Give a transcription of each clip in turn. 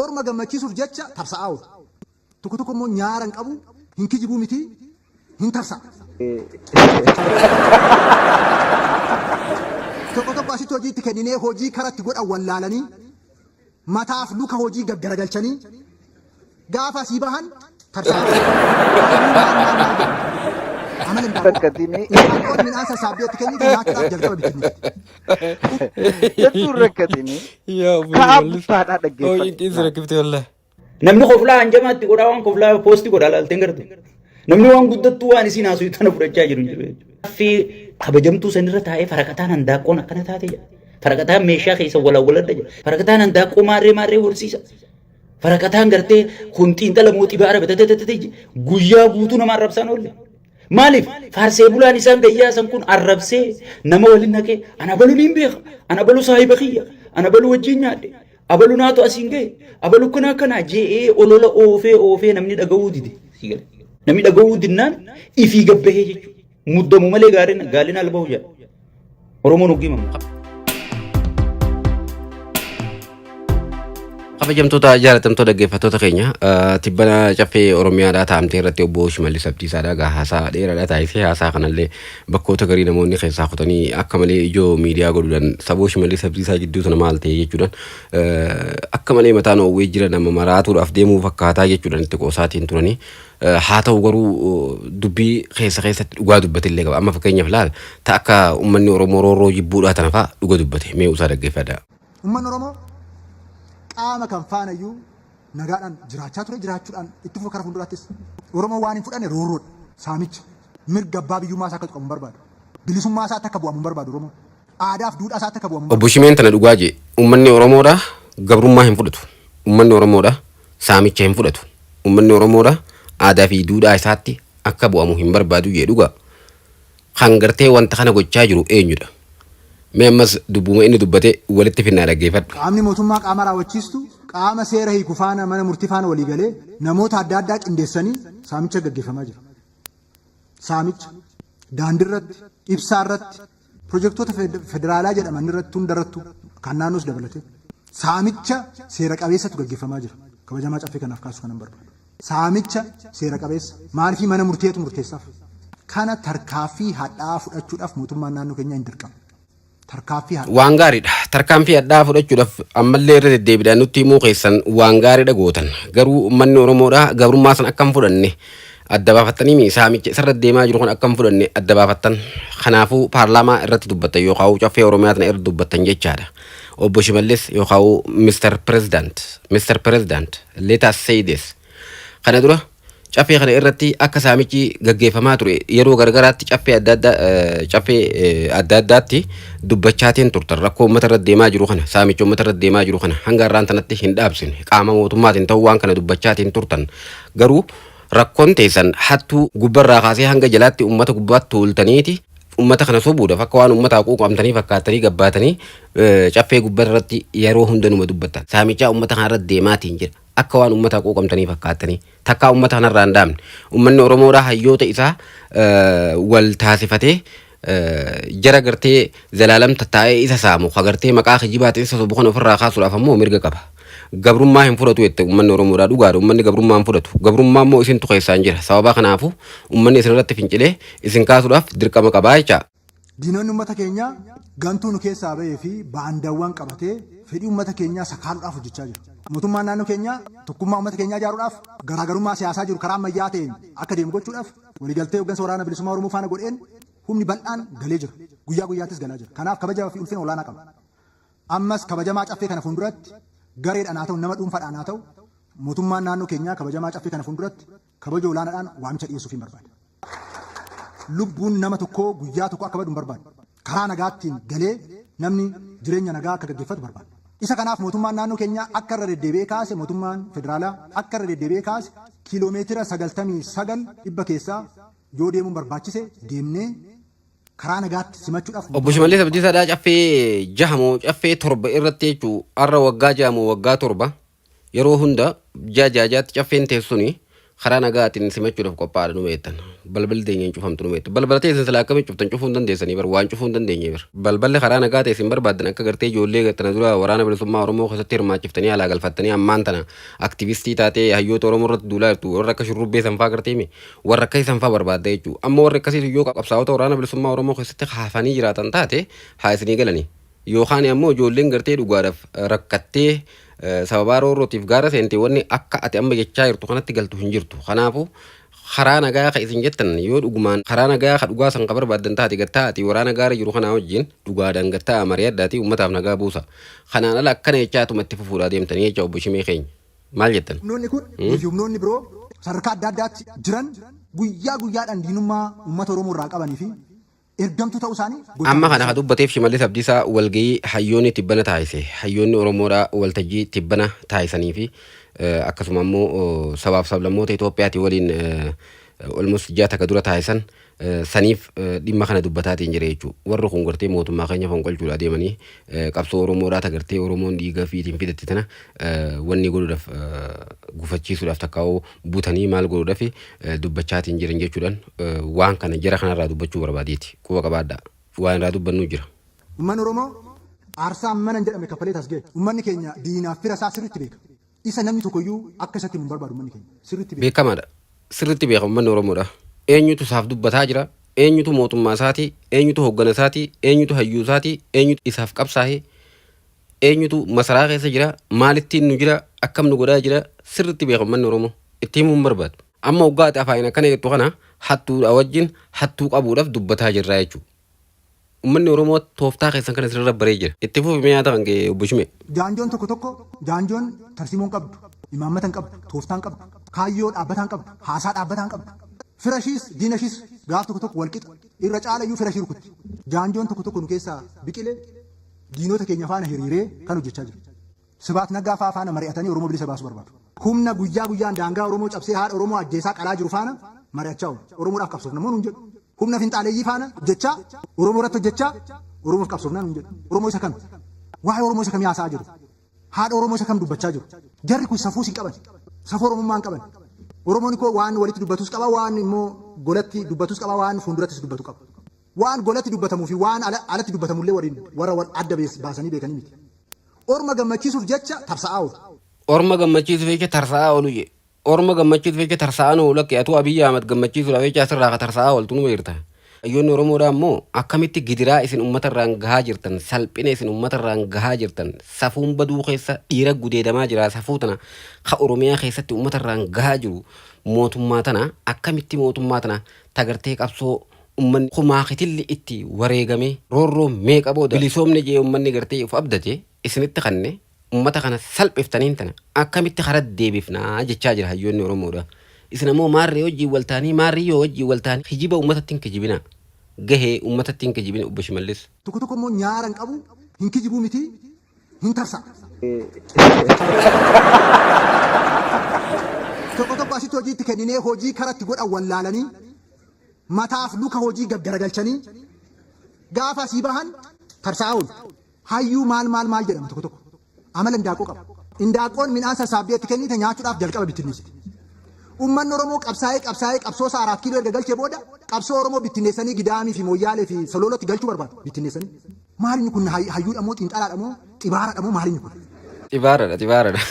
Orma gammachiisuuf jecha tarsa'aa oolu. Tokko tokko immoo nyaara hin qabu, hin kijibuu miti, hin tarsa'a. Tokko tokko asitti hojii itti kenninee hojii kara itti godhan wallaalanii mataaf luka hojii gaggaragalchanii gaafa asii bahan tarsa'a. Maal maal maal maal jedhu. Amala hin daawwatu. Akkasiin Isaan qoonni midhaan sassaabdee itti kennitu nyaachuudhaaf jalqaba bittinneessi. Hedduu rakkatini. Yaa obbo Ka'aa Shimallis. buttaadhaa Oo dhaggeeffadhu. cinqiin si rakkifte wallahi. Namni koflaa hanjamaa itti godhaa waan koflaa poosti godhaa laalteen garte. Namni waan guddattuu waan isiin haasuu tana fudhachaa jiru hin jiru jechuudha. Affii kabajamtuu sanirra taa'ee faraqataan handaaqqoon akkana taate jedha. Faraqataan meeshaa keessa walawwaladha jedha. Faraqataan handaaqqoo maarree maarree horsiisa. Faraqataan gartee kun xiinxala mootii baara batatatatatii guyyaa guutuu nama arrabsaan oolle. Maaliif faarsee bulaan isaan gayyaasan kun arrabsee nama waliin naqee ana balu niin beeka ana balu saahiba kiyya ana balu wajjin nyaadhe abalu naatu asiin gahe abalu kana akkanaa je'ee olola oofee oofee namni dhaga'uu dide namni dhaga'uu dinnaan ifii gabbahee jechuudha muddamu malee gaarina gaalina albahu jedha. Oromoon hoggii mamu qaba. Kabajamtoota jaalatamtoo dhaggeeffattoota keenya eh, tibbana caffee Oromiyaadhaa taa'amtee irratti obbo Shimallis Abdiisaadhaa egaa haasaa dheeraadhaa taasisee haasaa kanallee bakkoota garii namoonni keessaa kutanii akka malee ijoo miidiyaa godhuudhaan saboo Shimallis Abdiisaa jidduu sana maal ta'e jechuudhaan eh, akka malee mataan oowwee jiran amma maraatuudhaaf deemuu fakkaataa jechuudhaan itti qoosaatiin turanii Haa ta'u garuu dubbii keessa keessatti dhugaa dubbate illee qaba. Amma fakkeenyaaf laal ta akka uummanni Oromoo roorroo jibbuudhaa tana fa'a dhuga dubbate mee usaa dhaggeeffadhaa. Uummanni Oromoo qaama kam faana iyyuu nagaadhaan jiraachaa ture jiraachuudhaan itti fufa kara fuulduraattis. Oromoon waan hin fudhanne roorroodha, saamicha, mirga abbaa biyyummaa isaa akka tuqamu hin barbaadu. Bilisummaa isaatti akka bu'amu hin barbaadu Oromoon. aadaaf duudhaa isaatti akka bu'amu Obbo Shimeen tana dhugaa jee ummanni Oromoodha gabrummaa hin fudhatu. Ummanni Oromoodha saamicha hin fudhatu. Ummanni Oromoodha aadaa fi duudhaa isaatti akka bu'amu hin barbaadu jee dhugaa. Kan gartee wanta kana gochaa jiru eenyudha? Mee ammas dubbuma inni dubbate walitti finnaa dhaggeeffadhu. Qaamni mootummaa qaama raawwachiistu qaama seera hiiku faana mana murtii faana walii galee namoota adda addaa qindeessanii saamicha gaggeeffamaa jira. Saamicha daandirratti, ibsaarratti, Pirojektoota federaalaa jedhaman irratti hundarrattu kan naannoos dabalatee saamicha seera qabeessatu gaggeeffamaa jira. Kabajamaa caffee kanaaf kaasuu kanan barbaadu. Saamicha seera qabeessa maaliifii mana murteetu murteessaaf. Kana tarkaaffii hadhaa'aa fudhachuudhaaf mootummaan naannoo keenyaa hin dirqama. Tarkaaffii hadhaa'aa. Waan gaariidha. Tarkaanfii hadhaa'aa fudhachuudhaaf ammallee irra deddeebiidhaan nutti himuu keessan waan gaariidha gootan. Garuu uummanni Oromoodhaa gabrummaa san akka hin fudhanne Adda baafattaniimi saamicha isarra deemaa jiru kun akka hin fudhanne adda baafattan. Kanaafuu paarlaamaa irratti dubbattan yookaan caffee Oromiyaa tana irra dubbattan jechaadha. Obbo Shimallis yookaan Mr. President, Mr. President, let us say this. Kana dura caffee kana irratti akka saamichi gaggeeffamaa ture yeroo gargaraatti caffee adda addaa eh, caffee eh, adda addaatti dubbachaatiin turtan rakkoo uummata irra deemaa jiru kana saamicha uummata irra deemaa jiru kana hanga har'aan tanatti hin dhaabsine qaama mootummaatiin ta'uu waan kana dubbachaatiin turtan garuu Rakkon teessan hattuu gubba irraa kaasee hanga jalaatti ummata gubbaatti tuultaniiti ummata kana sobuudhaaf akka waan ummataa quuqamtanii fakkaattanii gabbaatanii caffee gubba irratti yeroo hunda numa dubbattan saamichaa ummata kana irratti deemaatiin jira akka waan ummataa quuqamtanii fakkaattanii takkaa ummata kana irraa hin dhaamne ummanni oromoodhaa hayyoota isaa wal taasifatee jara gartee zalaalam tattaa'ee isa saamu ka gartee maqaa kijibaatiin isa sobu kana ofirraa kaasuudhaaf ammoo mirga qaba. Gabrummaa hin fudhatu jette uummanni Oromoodhaa dhugaadha uummanni gabrummaa hin fudhatu. Gabrummaa immoo isintu keessaan jira sababaa kanaafuu uummanni isinirratti fincilee isin kaasuudhaaf dirqama qabaa jecha. Diinonni uummata keenyaa gantuu nu keessaa bahee fi baandaawwan qabatee fedhii uummata keenyaa sakaaluudhaaf hojjechaa jiru. Mootummaan naannoo keenyaa tokkummaa uummata keenyaa ijaaruudhaaf garaagarummaa siyaasaa jiru karaa ammayyaa ta'een akka deemu gochuudhaaf Waligaltee hoggansa Waraana Bilisummaa Oromoo faana godheen humni bal'aan galee jira. Guyyaa guyyaattis galaa jira. Kanaaf kabaja fi ulfina olaanaa qaba. Ammas kabajamaa Caffee kana fuulduratti gareedhaan haa ta'u nama dhuunfaadhaan haa ta'u mootummaan naannoo keenyaa kabajamaa Caffee kana fuulduratti kabaja olaanaadhaan waamicha dhiyeessuufiin barbaada. Lubbuun nama tokkoo guyyaa tokko akka badu hin barbaadu. Karaa nagaattiin galee namni jireenya nagaa akka gaggeffatu barbaanna. Isa kanaaf mootummaan naannoo keenyaa akka irra deddeebi'ee kaase mootummaan federaalaa akka irra deddeebi'ee kaase kiiloomeetira 99 dhibba keessaa yoo deemuun barbaachise deemnee karaa nagaatti simachuudhaaf Obbo mootummaa Shimallis Abdiisaadhaa caffee jaha moo caffee torba irratti jechuu har'a waggaa jaha moo waggaa torba Yeroo hunda ji'a ji'a ji'aatti caffeen teessuni karaa nagaatiin simachuudhaaf qophaa'aadha numa jettan. Balballi teenya hin cufamtu numa jettu. Balbala teessan silaa akkamitti cuftan cufuu hin dandeessanii bar waan cufuu hin dandeenye bar. Balballi karaa nagaa ta'e isin barbaaddan akka gartee ijoollee tana dura waraana bilisummaa Oromoo keessatti hirmaachiftanii alaa galfattanii ammaan tana aktivistii taatee hayyoota Oromoo irratti duulaa jirtu warra akka shurrubbee sanfaa gartee mi warra akkasii sanfaa barbaadda jechuu amma warri akkasii sun yoo qabsaa'ota waraana bilisummaa Oromoo keessatti hafanii jiraatan taate haa isinii galanii. Yookaan ammoo ijoolleen gartee dhugaadhaaf rakkattee sababaa roorrootiif gaara seente wanni akka ati amma jechaa jirtu kanatti galtu hin jirtu. Kanaafu karaa nagaa ka isin jettan yoo dhugumaan karaa nagaa ka dhugaa san ka barbaaddan taate gad taa'aatii waraana gaara jiru kanaa wajjiin dhugaadhaan gad taa'aa mari'adhaatii ummataaf nagaa buusa. Kanaan ala akkana jechaa ituma itti fufuudhaa deemtanii jecha obbo Shimee keenya. Maal jettan? Humnoonni kun fi humnoonni biroo sadarkaa adda addaatti jiran guyyaa guyyaadhaan diinummaa ummata Oromoo irraa qabanii fi ergamtuu ta'uu isaanii gocha Amma kana mul'isuu. ka dubbateef Shimallis Abdiisaa walgayii hayyoonni tibbana taasise hayyoonni Oromoodha waltajjii tibbana taasisanii fi eh, akkasuma immoo oh, sabaaf sablammoota Itoophiyaati waliin eh, almost ji'a takka dura taasisan eh, saniif eh, dhimma kana dubbataatiin jira jechuudha. Warri kun gartee mootummaa keenya fonqolchuudha adeemanii eh, qabsoo Oromoodhaa ta gartee Oromoon dhiiga fiitiin fidatte tana eh, wanni godhuudhaaf eh, gufachiisuudhaaf takkaa'uu butanii maal godhuudhafi dubbachaatiin jiran jechuudhaan waan kana jara kanarraa dubbachuu barbaadeeti. Quba qabaadhaa. Waan irraa dubbannuu jira. Ummanni Oromoo aarsaa mana hin jedhamne kaffalee as gahe. Ummanni keenya diinaaf fira isaa sirriitti beeka. Isa namni tokko iyyuu akka isatti himu hin barbaadu ummanni keenya. Sirriitti beeka. Beekamaadha. Sirriitti beeka ummanni Oromoodha. Eenyutu isaaf dubbataa jira, eenyutu mootummaa isaati, eenyutu hooggana isaati, eenyutu hayyuu isaati, eenyutu isaaf qabsaahe Eenyutu masaraa keessa jira, maalittiin nu jira, akkam nu godhaa jira sirriitti beeka ummanni Oromoo. Itti himuu hin barbaadu. Amma oggaa ati afaaniin akkana jettu kana hattuudhaa wajjin hattuu qabuudhaaf dubbataa jirra jechuu. Ummanni Oromoo tooftaa keessan kana isinirra baree jira. Itti fufi mee yaada kan kee Obbo Shimee. Jaanjoon tokko tokko jaanjoon tarsiimoo hin qabdu, imaammata hin qabdu, tooftaa hin qabdu, kaayyoo dhaabbataa hin qabdu, haasaa dhaabbataa hin qabdu. Fira ishiis diina ishiis gaaf tokko tokko wal qixa. Irra caala iyyuu fira ishii rukutti. Jaanjoon tokko tokko nu keessaa biqile. Diinota keenya faana hiriiree kan hojjechaa jiru. Sibaat Naggaa fa'aa faana mari'atanii Oromoo bilisa baasuu barbaadu. Humna guyyaa guyyaan daangaa Oromoo cabsee haadha Oromoo ajjeesaa qalaa jiru faana mari'achaa oolu. Oromoodhaaf qabsoofna moo nuun jedhu. Humna finxaaleyyii faana hojjechaa, Oromoo irratti hojjechaa, Oromoof qabsoofnaa nuun jedhu. Oromoo isa kami? Waa'ee Oromoo isa kamii haasa'aa jiru? Haadha Oromoo isa kam dubbachaa jiru? Jarri kun safuus hin qaban. Safuu Oromummaa hin qaban. Oromoon koo waan walitti dubbatus qaba, waan immoo golatti dubbatus qaba, waan fuundurattis dubbatu qaba. Waan golatti dubbatamuu fi waan alatti dubbatamu illee waliin warra wal adda baasanii beekanii miti. Orma gammachiisuuf jecha tarsa'aa oolu. Orma gammachiisuuf jecha tarsa'aa oolu je. Orma gammachiisuuf jecha tarsa'aan oolu lakkii atuu Abiy Ahmad gammachiisuudhaaf jecha asirraa ka tarsa'aa ooltu numa jirta. Hayyoonni Oromoodhaa immoo akkamitti gidiraa isin ummata irraan gahaa jirtan, salphina isin ummata irraan gahaa jirtan, safuun baduu keessa dhiira gudeedamaa jira safuu tana ka Oromiyaa keessatti ummata irraan gahaa jiru mootummaa tana akkamitti mootummaa tana ta gartee qabsoo ummanni kumaakitilli itti wareegame roorroo meeqa booda bilisoomne jee ummanni gartee uf abdate isinitti kanne ummata kana salphiftaniin tana akkamitti karat deebifna jechaa jira hayyoonni oromoodha isin ammoo maarree wajjiin wal taanii maarrii yoo wajjiin wal taanii kijiba ummatatti hin kijibinaa gahee ummatatti hin kijibina obbo shimallis. Tokko tokko immoo nyaara hin qabu hin kijibuu miti hin tarsa'a. Tokko tokko asitti hojii itti kenninee hojii karatti godhan wallaalanii. mataaf luka hojii gaggaragalchanii gaafa asii bahan tarsaa'aa oolu. Hayyuu maal maal maal jedhama tokko tokko. Amala indaaqqoo qaba. Indaaqqoon midhaan sassaabdee itti kennite nyaachuudhaaf jalqaba bittinneessiti. Uummanni Oromoo qabsaa'ee qabsaa'ee qabsoo isaa araat kiiloo erga galchee booda qabsoo Oromoo bittinneessanii Gidaamii fi Mooyyaalee fi Soloolootti galchuu barbaadu bittinneessanii. Maalini kun hayyuudha moo xiinxalaadha moo xibaaradha moo maalini kun? Xibaaradha xibaaradha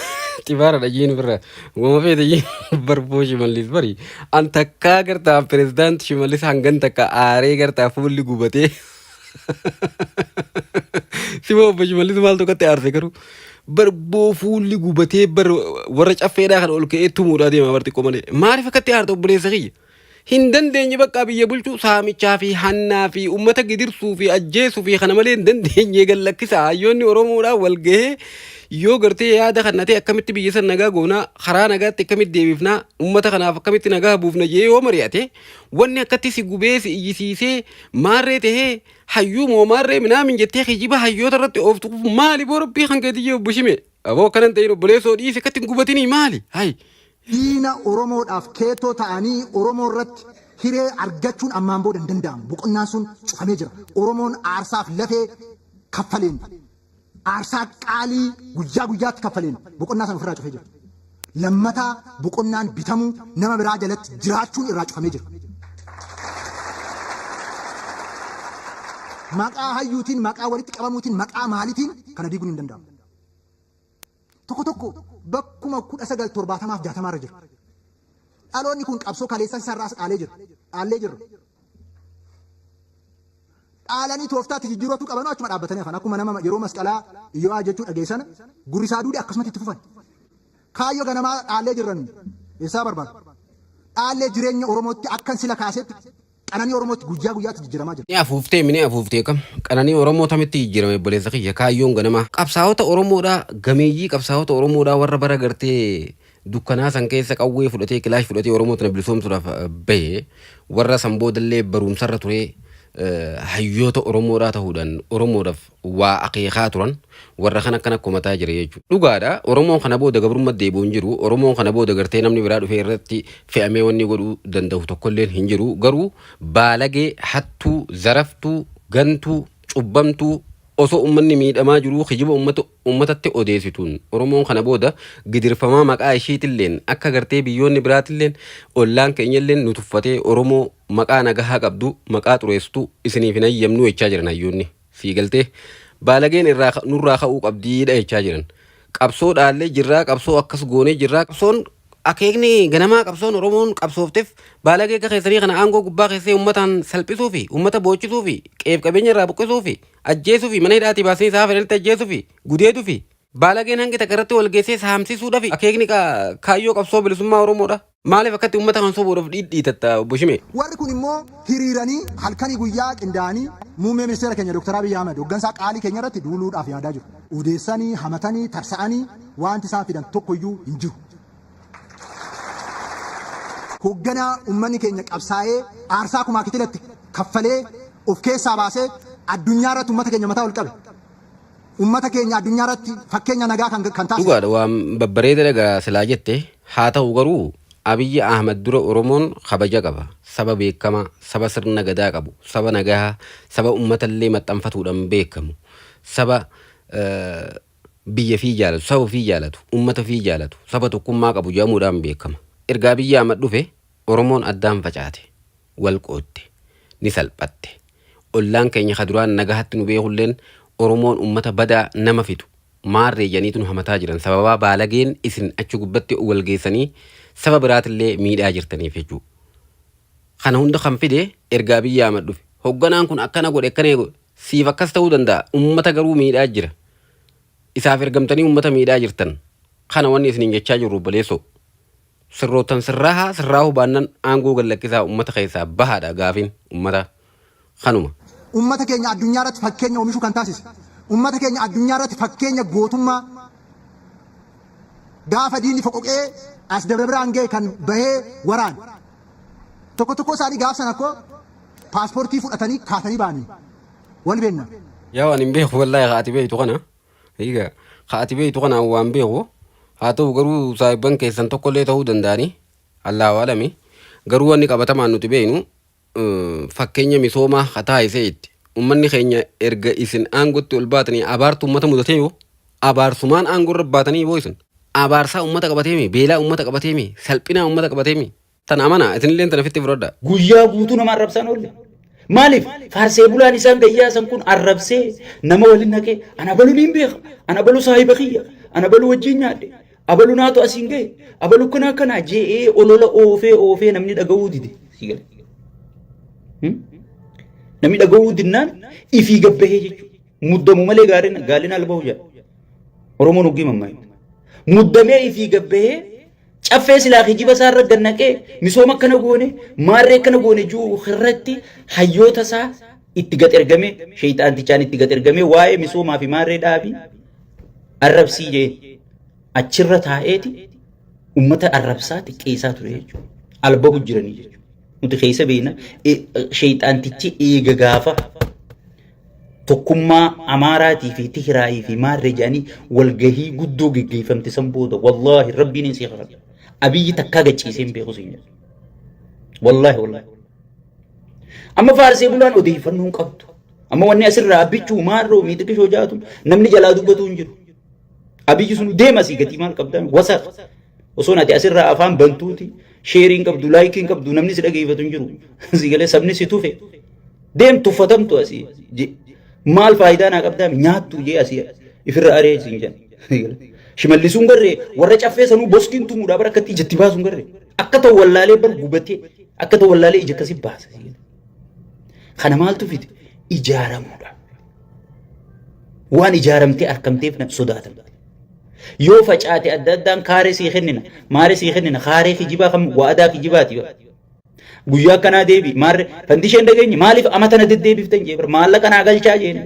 xibaaradha jiin birra wama feete jiin barboo shimallis bari an takkaa gartaa pirezidaanti shimallis hangan takka aaree gartaa fuulli gubatee sima obbo shimallis maal tokkotti aarse garuu barboo fuulli gubatee bar warra caffeedhaa kan ol ka'ee tumuudhaa deema bar xiqqoo malee maaliif akkatti aarta obboleessa kiyya Hin dandeenye baqqaa biyya bulchuu saamichaa fi hannaa fi uummata gidirsuu fi ajjeesuu fi kana malee hin dandeenye gad lakkisa hayyoonni Oromoodhaa wal gahee yoo gartee yaada kana ta'e akkamitti biyya san nagaa goonaa karaa nagaatti akkamitti deebifnaa uummata kanaaf akkamitti nagaa buufna jee yoo mari'ate wanni akkatti si gubee si iyyisiisee maarree tahee hayyuu moo maarree minaamin jettee kijiba hayyoota irratti ooftu maali boo rabbii kan keetiyyee obbo Shimee aboo akkanan ta'in obboleessoo dhiisi akkatti hin gubatinii maali hayi Diina Oromoodhaaf keettoo ta'anii Oromoo irratti hiree argachuun ammaan booda hin danda'amu. Boqonnaan sun cufamee jira. Oromoon aarsaaf lafee kaffaleen, aarsaa qaalii guyyaa guyyaatti kaffaleen boqonnaa sana ofirraa cufee jira. Lammata boqonnaan bitamuu, nama biraa jalatti jiraachuun irraa cufamee jira. Maqaa hayyuutiin, maqaa walitti qabamuutiin, maqaa maaliitiin kana diiguun hin danda'amu. Tokko tokko bakkuma 1970 fi 60 irra jiru. Dhaloonni kun qabsoo kaleessaa isaa irraas dhaalee jira. Dhaallee jirra. Dhaalanii tooftaatti jijjiirootu qabanoo achuma dhaabbatanii hafan. Akkuma nama yeroo masqalaa Iyyo'aa jechuu dhageessana gurri isaa duude akkasumatti itti fufan. Kaayyoo ganamaa dhaallee jirra nuyi. Eessaa barbaadu? Dhaallee jireenya Oromootti akkan sila kaasetti Qananii Oromoo itti guyyaa guyyaatti jijjiramaa jira. Ni afuuftee mi ni afuuftee kam? Qananii Oromoo tamitti jijjirame obboleessa kiyya kaayyoon ganamaa. Qabsaa'ota Oromoodhaa gameeyyii qabsaa'ota Oromoodhaa warra bara gartee dukkanaa san keessa qawwee fudhatee kilaash fudhatee Oromoo tana bilisoomsuudhaaf eh, bahe warra san boodallee barumsarra turee eh, hayyoota Oromoodhaa ta'uudhaan Oromoodhaaf waa akeekaa turan warra kan akkana komataa jira jechuudha. Dhugaadha Oromoon kana booda gabrummat deebi'u hin jiru Oromoon kana booda gartee namni biraa dhufee irratti fe'amee wanni godhuu dandahu tokkolleen hin jiru garuu baalagee hattuu zaraftuu gantuu cubbamtuu osoo ummanni miidhamaa jiruu kijiba ummata ummatatti odeessituun Oromoon kana booda gidirfamaa maqaa ishiitilleen akka gartee biyyoonni biraatilleen ollaan keenyalleen nu tuffatee Oromoo maqaa nagahaa qabdu maqaa xureessitu isiniif hin hayyamnuu jechaa jiran hayyoonni. Sii galtee? Baalageen irraa ka- nurraa ka'uu qabdiidha jechaa jiran. Qabsoo dhaallee jirraa, qabsoo akkas goonee jirraa. Qabsoon akeekni ganamaa qabsoon Oromoon qabsoofteef baalagee akka keessanii kana aangoo gubbaa keessee uummataan salphisuu fi uummata boochisuu fi qeef qabeenya irraa buqqisuu fi ajjeesuu fi mana hidhaatii baasanii isaa fedhanitti ajjeesuu fi gudeeduu fi baalageen hangi takka irratti wal geessee saamsisuudha fi akeekni ka- kaayyoo qabsoo bilisummaa Oromoodha. Maaliif akkatti uummata kan sobuudhaaf dhiidhiitatta obbo Shimee? Warri kun immoo hiriiranii halkanii guyyaa qindaa'anii muummee ministeera keenya Dr. Abiy Ahmed hoggansaa qaalii keenya irratti duuluudhaaf yaadaa jiru. Odeessanii, hamatanii, tarsa'anii waanti isaan fidan tokko iyyuu hin jiru. Hogganaa uummanni keenya qabsaa'ee aarsaa kumaa kitilatti kaffalee of keessaa baasee addunyaa irratti uummata keenya mataa ol qabe. Ummata keenya addunyaa irratti fakkeenya nagaa kan kan taasisu. Dhugaadha waan babbareedadha gaa silaa jette haa ta'u garuu Abiyyi Ahmad dura Oromoon kabaja qaba saba beekamaa saba sirna gadaa qabu saba nagaha saba ummata illee maxxanfatuudhan beekamu saba biyya fii jaalatu saba fii jaalatu ummata fii jaalatu saba tokkummaa qabu jedhamuudhaan beekama erga Abiyyi Ahmad dhufe Oromoon addaan facaate wal qoodde, ni salphatte. Ollaan keenya ka duraan nagahatti nu beekulleen Oromoon ummata badaa, nama fixu, maarree jedhaniitu nu hamataa jiran sababaa baalageen isin achi gubbatti wal geessanii saba biraatillee miidhaa jirtaniif jechuu. Kana hunda kan fide erga Abiy Ahmad dhufe hogganaan kun akkana godhe akkana godhe siif akkas ta'uu danda'a ummata garuu miidhaa jira. Isaaf ergamtanii ummata miidhaa jirtan. Kana wanni isiniin jechaa jirru obboleessoo. Sirroottan sirraahaa sirraahuu baannan aangoo gad lakkisaa ummata keessaa bahaadha gaafin ummata kanuma. Ummata keenya addunyaa irratti fakkeenya omishuu kan taasise, ummata keenya addunyaa irratti fakkeenya gootummaa gaafa diinni foqoqee as Dabra Birhaan gahe kan bahee waraane. Tokko tokkoo isaanii gaaf sana koo paasportii fudhatanii kaatanii bahanii wal beenna. Yaw ani hin beeku wallahi ka ati beektu kana. Egaa ka ati beektu kana an waan beeku haa ta'u garuu saahibban keessan tokkollee ta'uu danda'ani Allaahu alami garuu wanni qabatamaan nuti beeknu fakkeenya misoomaa ka taasisee itti ummanni keenya erga isin aangotti ol baatanii abaartu ummata mudatee yoo abaarsumaan aangoo irra baatanii boo isin abaarsaa ummata qabateemi beelaa ummata qabateemi salphinaa ummata qabateemi Tan amanaa isinilleen tana fitti fudhadha. Guyyaa guutuu nama arrabsaan oolle. Maaliif faarsee bulaan isaan gayyaasan kun arrabsee nama waliin naqee ana balu niin beeka ana balu saahiba kiyya ana balu wajjin nyaadhe abalu naatu asiin gahe abalu kana akkana je'ee olola oofee oofee namni dhaga'uu dide. Namni dhaga'uu dinnaan ifii gabbahee jechuudha. Muddamu malee gaariin gaalina albahu jedha. Oromoon hoggii mammaa. Muddamee ifii gabbahee Caffee silaa kijiba isaa irra gad naqee misooma akkana goone maarree akkana goone jiru irratti hayyoota isaa itti gad ergamee sheeyxaantichaan itti gad ergamee waa'ee misoomaa fi maarree dhaabii arrabsii jee achirra taa'eeti ummata arrabsaa xiqqeessaa ture jechuudha. Albabu jiranii jechuudha. Nuti keessa beekna sheeyxaantichi eega gaafa tokkummaa Amaaraatii fi Tihiraayii fi Maarree jedhanii walgahii guddoo geggeeffamte san booda wallaahi rabbiin hin siif hafadha. Abiyyi takkaa gachiisee hin beeku siin jedhu. Wallaahi wallaahi. Amma faarsee bulaan odeeffannoo hin qabdu. Amma wanni asirraa abbichuu maarroo miixiqishoo jaatu namni jalaa dubbatu hin jiru. Abiyyi sun deema sii gatii maal qabdaan wasa osoo ati asirraa afaan bantuuti sheerii hin qabdu laayikii hin qabdu namni si dhageeffatu hin jiru si galee sabni si tufe deem tuffatamtu asii je- maal faayidaa naa qabdaa nyaattu jee asii ifirra aree siin jedhan shimallisuun garree warra caffee sanuu boskiin tumuudhaa bara akkatti ijatti baasuun garree akka ta'u wallaalee bar gubatee akka ta'u wallaalee ija akkasi baasa siin jedhan. Kana maaltu fide? Ijaaramuudha. Waan ijaaramtee arkamteef na sodaatan. Yoo facaate adda addaan kaaree sii kennina, maaree sii kennina, kaaree kijibaa kan waadaa kijibaati. Guyyaa akkanaa deebi, maarre fandishee hin dhageenye maaliif amata na deddeebiftan jee bar maallaqa naa galchaa jeen.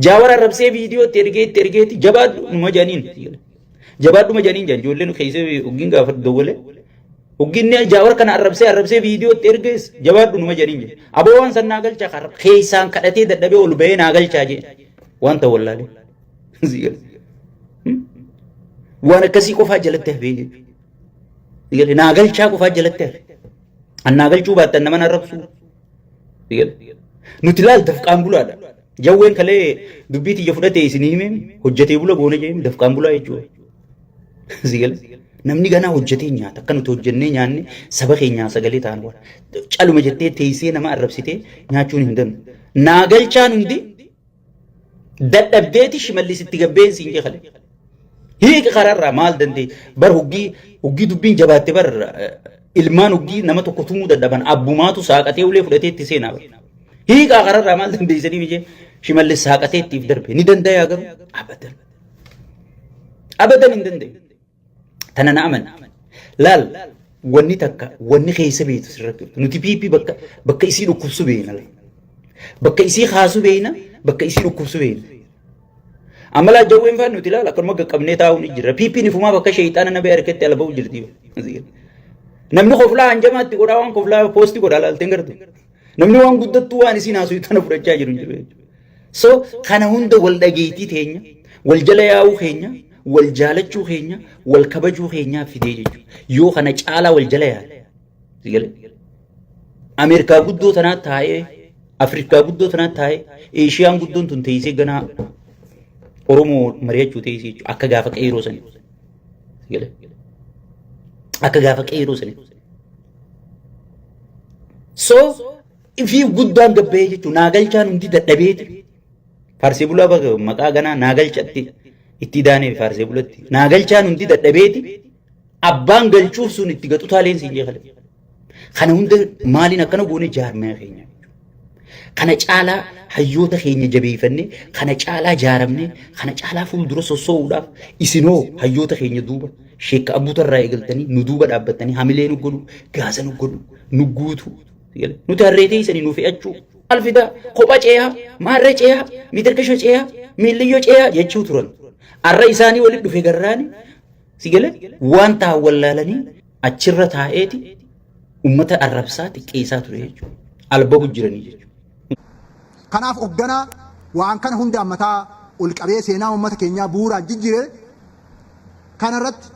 Jaawar arrabsee viidiyoo itti ergee itti ergeeti jabaadhu numa jedhaniin. Jabaadhuma janiin jan ijoolleen keessee oggiin gaafa dawwale oggiin ni jaawar kana arrabsee arrabsee viidiyootti ergees jabaadhu numa janiin jan. Aboo waan san naa galchaa kan keessaan kadhatee dadhabee ol bahee naa galchaa jeen waan ta'u wallaalee. Waan akkasii qofaa jalatti hafee jechuudha. Naa galchaa qofaa jalatti hafee. An naa galchuu baattan nama na arrabsuu. Nuti laal dafqaan bulaadha. Jawween kalee dubbii tiyya fudhatee isin himeen hojjetee bula goona jeen dafqaan bulaa jechuudha. Sigale. Namni ganaa hojjetee nyaata akka nuti hojjennee nyaanne saba keenyaa sagalee ta'an waan. Caluma jettee teessee nama arrabsitee nyaachuun hin danda'u. Naa galchaan hundi Dadhabdeeti shimallis itti gabbeen siin jee kale. Hiiki kararraa maal dandee bar huggii huggii dubbiin jabaatte bar ilmaan huggii nama tokko tumuu dadhaban abbumaatu saaqatee ulee fudhatee itti seenaa bar. Hiikaa kararraa maal dandeessanii mijee shimallis saaqatee ittiif darbe ni dandayaa garuu abadan. Abadan hin dandeenye. Tana na amani. Laal wanni takka wanni keessa beektu sirratti jirtu. Nuti PP bakka bakka isii dhukkubsu beekna laal. Bakka isii kaasu beekna bakka isii dhukkubsu beekna. Amma laa jawween faan nuti laal akkanuma qaqqabnee taa'uu ni jirra. PP nifumaa bakka sheeyxaana nabee harkatti ala ba'u jirti. Namni koflaa hanjamaatti godhaa waan koflaa poosti godhaa laalteen gartu. Namni waan guddattuu waan isiin haasuu tana fudhachaa jiru hin jiru. So kana hunda wal dhageettii teenya, wal jala yaa'uu keenya, wal jaalachuu keenya, wal kabajuu keenyaa fidee jechuudha. Yoo kana caalaa wal jala yaa'e. Si galee? Ameerikaa guddoo tanaa taa'ee, Afrikaa guddoo tanaa taa'ee, Eeshiyaan guddoon tun teessee ganaa Oromoo mari'achuu teessee jechuudha. Akka gaafa qeeroo sanii. Si galee? Akka gaafa qeeroo sanii. So Ifii guddaan gabba'ee jechuun naa galchaan hundi dadhabee jechuudha. Faarsee bulaa baga maqaa ganaa naa galchatti itti daanee faarsee bulatti naa galchaan hundi dadhabeeti abbaan galchuuf sun itti gaxutaa leensiin jeekale. Kana hunda maaliin akkana goone jaarmee keenya. Kana caalaa hayyoota keenya jabeeffannee kana caalaa jaaramnee kana caalaa fuuldura sossoo'uudhaaf isinoo hayyoota keenya duuba sheekka abbuutarraa eegaltanii nu duuba dhaabbattanii hamilee nu godhu gaasa nu godhu nu guutu Nuti harree teessanii nu fe'achuu maal fidaa kopha ceeyaa maarree ceeyaa mitirkisho ceeyaa miilliyyoo ceeyaa jechuu turan. Har'a isaanii walitti dhufe garraani si gale waan ta'an wallaalanii achirra taa'eeti uummata arrabsaa xiqqeessaa ture jechuudha. Albabu jiranii jechuudha. Kanaaf hoogganaa waan kana hundaan mataa ol qabee seenaa uummata keenyaa bu'uuraan jijjiire kanarratti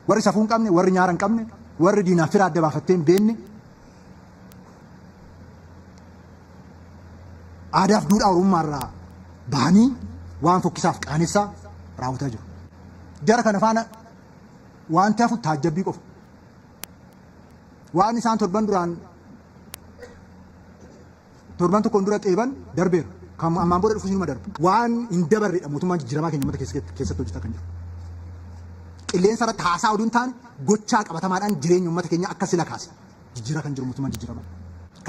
Warri safuu hin qabne, warri nyaara hin qabne, warri diinaaf fira adda baafattee hin beenne, aadaaf duudhaa Oromummaa irraa bahanii waan fokkisaaf qaanessaa raawwataa jiru. Jara kana faana wanti hafu taajjabbii qofa. Waan isaan torban duraan Torban tokkoon dura qeeban darbeera. Kan ammaan booda dhufus inuma darba. Waan hin dabarredha mootummaan jijjiiramaa keenya uummata keessatti keessatti hojjetaa kan jiru. Qilleensa irratti haasaa oduu hin taane gochaa qabatamaadhaan jireenya uummata keenyaa akka sila kaase jijjiiraa kan jiru mootummaan jijjiiramaa.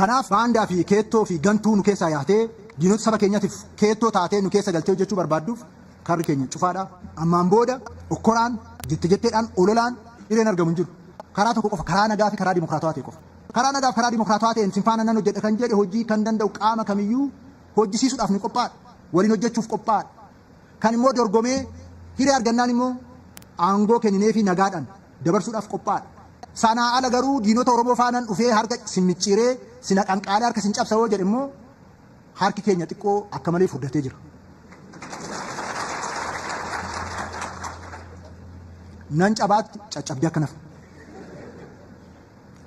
Kanaaf baandaa fi keettoo fi gantuu nu keessaa yaatee diinota saba keenyatiif keettoo taatee nu keessa galtee hojjechuu barbaadduuf karri keenya cufaadha. Ammaan booda okkoraan, jette jetteedhaan, ololaan hireen argamu hin jiru. Karaa tokko qofa karaa nagaa fi karaa dimokiraatawaa ta'e qofa. Karaa nagaa fi karaa dimokiraatawaa ta'een sin faana nan hojjedha kan jedhe hojii kan danda'u qaama kamiyyuu hojjisiisuudhaaf ni qophaa'adha. Waliin hojjechuuf qophaa'adha. Kan immoo dorgomee hiree argannaan immoo aangoo kennineefii nagaadhaan dabarsuudhaaf qophaa'adha. Sanaa ala garuu diinota Oromoo faanan dhufee harka sin micciiree, sin haqanqaalee harka sin cabsa yoo jedhe immoo harki keenya xiqqoo akka malee furdatee jira. Nan cabaatti caccabdee akka nafu.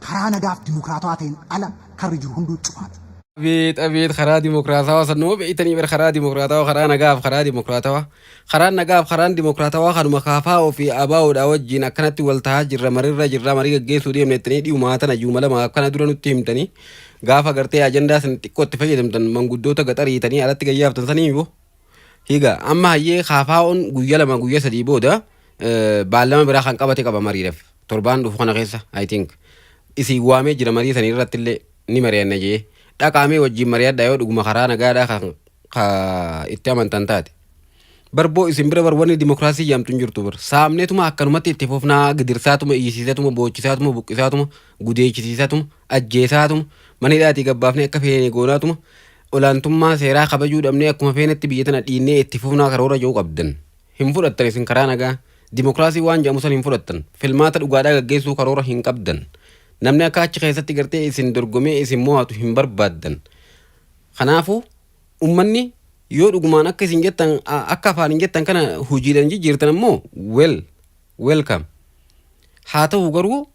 Karaa nagaaf dimokiraatawaa ta'een ala karri jiru hunduu cufaadha. Abeet abeet karaa dimokiraatawaa san nama beektanii bar karaa dimokiraatawaa karaa nagaaf karaa dimokiraatawaa karaan nagaaf karaan dimokiraatawaa kanuma kaafaa'oo fi abaawoodhaa wajjin akkanatti wal tahaa jirra marirra jirra marii gaggeessuu deemne ittanii dhiyumaa tana juuma lama akkana dura nutti himtanii gaafa gartee ajandaa san xiqqoo itti fayyadamtan manguddoota gaxariitanii alatti gayyaaftan sanii yoo higa amma hayyee kaafaa'oon guyya lama guyya sadii booda eh, baallama biraa kan qabate qaba mariidhaaf. torbaan dhufu kana keessa I think isin waamee jira marii sanii irratti illee ni mari'anna jee dhaqaamee wajjin mari'adha yoo dhuguma karaa nagaadhaa kan ka itti amantan taate. Barboo isin bira bar wanni dimokiraasii jaamtu hin jirtu bar saamneetuma akkanumatti itti fufnaa gidirsaatuma iyyisiisatuma boochisaatuma buqqisaatuma gudeechisiisatuma ajjeesaatuma mana hidhaatii gabbaafnee akka feene goonaatuma olaantummaa seeraa kabajuu dhabnee akkuma feenetti biyya tana dhiinnee itti fufnaa karoora jiru qabdan hin fudhattan isin karaa nagaa Dimokiraasii waan jedhamu san hin fudhattan. Filmaata dhugaadhaa gaggeessuu karoora hin qabdan. Namni akka achi keessatti gartee isin dorgomee isin mo'atu hin barbaaddan. Kanaafuu ummanni yoo dhugumaan akka isin jettan akka afaan hin jettan kana hojiidhaan jijjiirtan ammoo well welcome. Haa ta'u garuu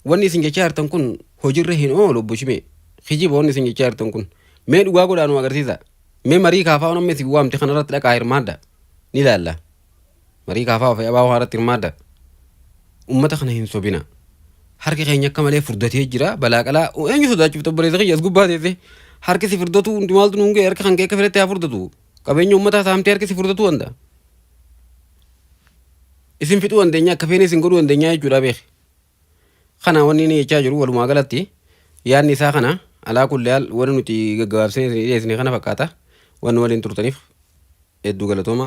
wanni isin jechaa jirtan kun hojiirra hin oolu obbo Shimee. Kijiba wanni isin jechaa jirtan kun. Mee dhugaa godhaa nu agarsiisa. Mee marii kaafaa namni isin waamte kanarratti dhaqaa hirmaadha. Ni ilaalla. Marii kaafaa ofii abaa'oo haaratti hirmaadha. Ummata kana hin sobina. Harki keenya akka malee furdatee jira. Balaa qalaa eenyu sodaachuuf tabbareessa kiyya as gubbaa teessee. Harki si furdatu hundi maaltu nuun ga'e harka kan kee akka fedhetti haa furdatu. Qabeenya ummataa saamtee harki si furdatu wanta. Isin fixuu dandeenya akka feene isin godhuu dandeenya jechuudha beeki. Kana wanni inni jechaa jiru walumaa galatti yaadni isaa kana alaa kulli haal wanni nuti gaggabaabsinee isin dhiyeessine kana fakkaata. Wanni waliin turtaniif hedduu galatooma.